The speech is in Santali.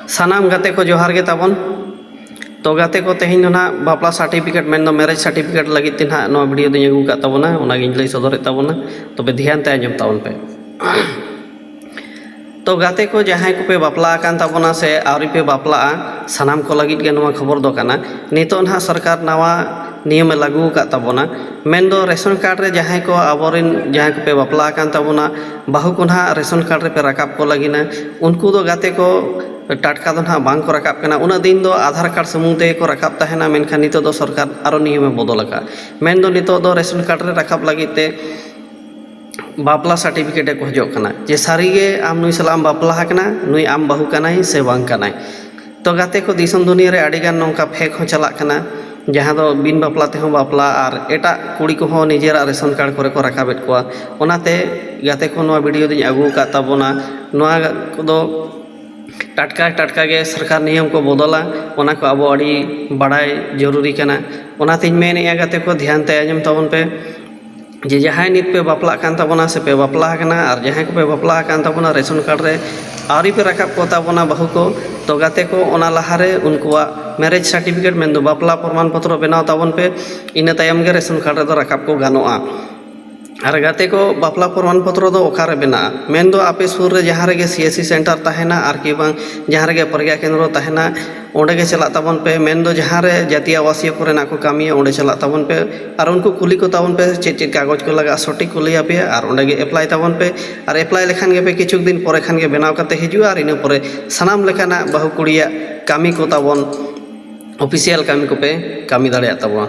ᱥᱟᱱᱟᱢ ᱜᱟᱛᱮ ᱠᱚ ᱡᱚᱦᱟᱨ ᱜᱮ ᱛᱟᱵᱚᱱ ᱛᱚ ᱜᱟᱛᱮ ᱠᱚ ᱛᱮᱦᱮᱧ ᱫᱚ ᱱᱟᱦᱟᱜ ᱵᱟᱯᱞᱟ ᱥᱟᱨᱴᱤᱯᱷᱤᱠᱮᱴ ᱢᱮᱱᱫᱚ ᱢᱮᱨᱮᱡᱽ ᱥᱟᱨᱴᱤᱯᱷᱤᱠᱮᱴ ᱞᱟᱹᱜᱤᱫ ᱛᱮ ᱱᱟᱦᱟᱜ ᱱᱚᱣᱟ ᱵᱷᱤᱰᱭᱳ ᱫᱚᱧ ᱟᱹᱜᱩ ᱟᱠᱟᱫ ᱛᱟᱵᱚᱱᱟ ᱚᱱᱟᱜᱤᱧ ᱞᱟᱹᱭ ᱥᱚᱫᱚᱨᱮᱫ ᱛᱟᱵᱚᱱᱟ ᱛᱚᱵᱮ ᱫᱷᱮᱭᱟᱱ ᱛᱮ ᱟᱸᱡᱚᱢ ᱛᱟᱵᱚᱱ ᱯᱮ ᱛᱚ ᱜᱟᱛᱮ ᱠᱚ ᱡᱟᱦᱟᱸᱭ ᱠᱚᱯᱮ ᱵᱟᱯᱞᱟ ᱟᱠᱟᱱ ᱛᱟᱵᱚᱱᱟ ᱥᱮ ᱟᱹᱣᱨᱤ ᱯᱮ ᱵᱟᱯᱞᱟᱜᱼᱟ ᱥᱟᱱᱟᱢ ᱠᱚ ᱞᱟᱹᱜᱤᱫ ᱜᱮ ᱱᱚᱣᱟ ᱠᱷᱚᱵᱚᱨ ᱫᱚ ᱠᱟᱱᱟ ᱱᱤᱛᱚᱜ ᱱᱟᱦᱟᱜ ᱥᱚᱨᱠᱟᱨ ᱱᱟᱣᱟ ᱱᱤᱭᱚᱢᱮ ᱞᱟᱹᱜᱩ ᱟᱠᱟᱫ ᱛᱟᱵᱚᱱᱟ ᱢᱮᱱᱫᱚ ᱨᱮᱥᱚᱱ ᱠᱟᱨᱰ ᱨᱮ ᱡᱟᱦᱟᱸᱭ ᱠᱚ ᱟᱵᱚᱨᱮᱱ ᱡᱟᱦᱟᱸᱭ ᱠᱚᱯᱮ ᱵᱟᱯᱞᱟ ᱟᱠᱟᱱ ᱛᱟᱵᱚᱱᱟ ᱵᱟᱹᱦᱩ ᱠᱚ ᱱᱟᱦᱟᱜ ᱨᱮᱥᱚᱱ ᱠᱟᱨᱰ ᱨᱮᱯᱮ ᱨᱟᱠᱟᱵ ᱠᱚ ᱞᱟᱹᱜᱤᱫᱼᱟ ᱩᱱᱠᱩ ᱫᱚ ᱜᱟᱛᱮ ᱠᱚ ᱴᱟᱴᱠᱟ ᱫᱚ ᱱᱟᱦᱟᱜ ᱵᱟᱝ ᱠᱚ ᱨᱟᱠᱟᱵ ᱠᱟᱱᱟ ᱩᱱᱟᱹᱜ ᱫᱤᱱ ᱫᱚ ᱟᱫᱷᱟᱨ ᱠᱟᱨᱰ ᱥᱩᱢᱩᱝ ᱛᱮᱜᱮ ᱠᱚ ᱨᱟᱠᱟᱵ ᱛᱟᱦᱮᱱᱟ ᱢᱮᱱᱠᱷᱟᱱ ᱱᱤᱛᱚᱜ ᱫᱚ ᱥᱚᱨᱠᱟᱨ ᱟᱨᱚ ᱱᱤᱭᱚᱢᱮ ᱵᱚᱫᱚᱞ ᱟᱠᱟᱫᱼᱟ ᱢᱮᱱᱫᱚ ᱱᱤᱛᱚᱜ ᱫᱚ ᱨᱮᱥᱚᱱ ᱠᱟᱨᱰ ᱨᱮ ᱨᱟᱠᱟᱵ ᱞᱟᱹᱜᱤᱫ ᱛᱮ ᱵᱟᱯᱞᱟ ᱥᱟᱨᱴᱤᱯᱷᱤᱠᱮᱴᱮ ᱠᱷᱚᱡᱚᱜ ᱠᱟᱱᱟ ᱡᱮ ᱥᱟᱹᱨᱤᱜᱮ ᱟᱢ ᱱᱩᱭ ᱥᱟᱞᱟᱜ ᱮᱢ ᱵᱟᱯᱞᱟ ᱟᱠᱟᱱᱟ ᱱᱩᱭ ᱟᱢ ᱵᱟᱹᱦᱩ ᱠᱟᱱᱟᱭ ᱥᱮ ᱵᱟᱝ ᱠᱟᱱᱟᱭ ᱛᱚ ᱜᱟᱛᱮ ᱠᱚ ᱫᱤᱥᱚᱢ ᱫᱩᱱᱤᱭᱟᱹ ᱨᱮ ᱟᱹᱰᱤᱜᱟᱱ ᱱᱚᱝᱠᱟ ᱯᱷᱮᱠ ᱦᱚᱸ ᱪᱟᱞᱟᱜ ᱠᱟᱱᱟ ᱡᱟᱦᱟᱸ ᱫᱚ ᱵᱤᱱ ᱵᱟᱯᱞᱟ ᱛᱮᱦᱚᱸ ᱵᱟᱯᱞᱟ ᱟᱨ ᱮᱴᱟᱜ ᱠᱩᱲᱤ ᱠᱚᱦᱚᱸ ᱱᱤᱡᱮᱨᱟᱜ ᱨᱮᱥᱚᱱ ᱠᱟᱨᱰ ᱠᱚᱨᱮ ᱠᱚ ᱨᱟᱠᱟᱵᱮᱫ ᱠᱚᱣᱟ ᱚᱱᱟᱛᱮ ᱜᱟᱛᱮ ᱠᱚ ᱱᱚᱣᱟ ᱵᱷᱤᱰᱭᱳ ᱫᱚᱧ ᱟᱹᱜᱩ ᱟᱠᱟᱫ ᱛᱟᱵᱚᱱᱟ ᱱᱚᱣᱟ ᱠᱚᱫᱚ ᱴᱟᱴᱠᱟ ᱴᱟᱴᱠᱟ ᱜᱮ ᱥᱚᱨᱠᱟᱨ ᱱᱤᱭᱚᱢ ᱠᱚ ᱵᱚᱫᱚᱞᱟ ᱚᱱᱟ ᱠᱚ ᱟᱵᱚ ᱟᱹᱰᱤ ᱵᱟᱲᱟᱭ ᱡᱟᱹᱨᱩᱨᱤ ᱠᱟᱱᱟ ᱚᱱᱟᱛᱤᱧ ᱢᱮᱱᱮᱫᱼᱟ ᱜᱟᱛᱮ ᱠᱚ ᱫᱷᱮᱭᱟᱱ ᱛᱮ ᱟᱸᱡᱚᱢ ᱛᱟᱵᱚᱱ ᱯᱮ ᱡᱮ ᱡᱟᱦᱟᱸᱭ ᱱᱤᱛ ᱯᱮ ᱵᱟᱯᱞᱟᱜ ᱠᱟᱱ ᱛᱟᱵᱚᱱᱟ ᱥᱮᱯᱮ ᱵᱟᱯᱞᱟ ᱠᱟᱱᱟ ᱟᱨ ᱡᱟᱦᱟᱸᱭ ᱠᱚᱯᱮ ᱵᱟᱯᱞᱟ ᱠᱟᱱ ᱛᱟᱵᱚᱱᱟ ᱨᱮᱥᱚᱱ ᱠᱟᱨᱰ ᱨᱮ ᱟᱹᱣᱨᱤ ᱯᱮ ᱨᱟᱠᱟᱵ ᱠᱚᱛᱟ ᱵᱚᱱᱟ ᱵᱟᱹᱦᱩ ᱠᱚ ᱛᱚ ᱜᱟᱛᱮ ᱠᱚ ᱚᱱᱟ ᱞᱟᱦᱟᱨᱮ ᱩᱱᱠᱩᱣᱟᱜ ᱢᱮᱨᱮᱡᱽ ᱥᱟᱨᱴᱤᱯᱷᱤᱠᱮᱴ ᱢᱮᱱᱫᱚ ᱵᱟᱯᱞᱟ ᱯᱨᱚᱢᱟᱱ ᱯᱚᱛᱨᱚ ᱵᱮᱱᱟᱣ ᱛᱟᱵᱚᱱ ᱯᱮ ᱤᱱᱟᱹ ᱛᱟᱭᱚᱢ ᱜᱮ ᱨᱮᱥᱚᱱ ᱠᱟᱨᱰ ᱨᱮᱫᱚ ᱨᱟᱠᱟᱵ ᱠᱚ ᱜᱟᱱᱚᱜᱼᱟ ᱟᱨ ᱜᱟᱛᱮ ᱠᱚ ᱵᱟᱯᱞᱟ ᱯᱨᱚᱢᱟᱱ ᱯᱚᱛᱨᱚ ᱫᱚ ᱚᱠᱟᱨᱮ ᱵᱮᱱᱟᱜᱼᱟ ᱢᱮᱱᱫᱚ ᱟᱯᱮ ᱥᱩᱨ ᱨᱮ ᱡᱟᱦᱟᱸ ᱨᱮᱜᱮ ᱥᱤ ᱮᱥ ᱥᱤ ᱥᱮᱱᱴᱟᱨ ᱛᱟᱦᱮᱱᱟ ᱟᱨᱠᱤ ᱵᱟᱝ ᱡᱟᱦᱟᱸ ᱨᱮᱜᱮ ᱯᱨᱚᱜᱽᱜᱟ ᱠᱮᱱᱫᱨᱚ ᱛᱟᱦᱮᱱᱟ ᱚᱸᱰᱮ ᱜᱮ ᱪᱟᱞᱟᱜ ᱛᱟᱵᱚᱱ ᱯᱮ ᱢᱮᱱ ᱫᱚ ᱡᱟᱦᱟᱸ ᱨᱮ ᱡᱟᱹᱛᱤᱭᱚ ᱟᱵᱟᱥᱤᱭᱚ ᱠᱚᱨᱮᱱᱟᱜ ᱠᱚ ᱠᱟᱹᱢᱤᱭᱟ ᱚᱸᱰᱮ ᱪᱟᱞᱟᱜ ᱛᱟᱵᱚᱱ ᱯᱮ ᱟᱨ ᱩᱱᱠᱩ ᱠᱩᱞᱤ ᱠᱚ ᱛᱟᱵᱚᱱ ᱯᱮ ᱪᱮᱫ ᱪᱮᱫ ᱠᱟᱜᱚᱡᱽ ᱠᱚ ᱞᱟᱜᱟᱜᱼᱟ ᱥᱚᱴᱷᱤᱠ ᱠᱚ ᱞᱟᱹᱭ ᱟᱯᱮᱭᱟ ᱟᱨ ᱚᱸᱰᱮ ᱜᱮ ᱮᱯᱞᱟᱭ ᱛᱟᱵᱚᱱ ᱯᱮ ᱟᱨ ᱮᱯᱞᱟᱭ ᱞᱮᱠᱷᱟᱱ ᱜᱮᱯᱮ ᱠᱤᱪᱷᱩ ᱫᱤᱱ ᱯᱚᱨᱮ ᱠᱷᱟᱱ ᱜᱮ ᱵᱮᱱᱟᱣ ᱠᱟᱛᱮᱫ ᱦᱤᱡᱩᱜᱼᱟ ᱟᱨ ᱤᱱᱟᱹ ᱯᱚᱨᱮ ᱥᱟᱱᱟᱢ ᱞᱮᱠᱟᱱᱟᱜ ᱵᱟᱹᱦᱩ ᱠᱩᱲᱤᱭᱟᱜ ᱠᱟᱹᱢᱤ ᱠᱚ ᱛᱟᱵᱚᱱ ᱚᱯᱷᱤᱥᱤᱭᱟᱞ ᱠᱟᱹᱢᱤ ᱠᱚᱯᱮ ᱠᱟᱹᱢᱤ ᱫᱟᱲᱮᱭᱟᱜ ᱛᱟᱵᱚᱱᱟ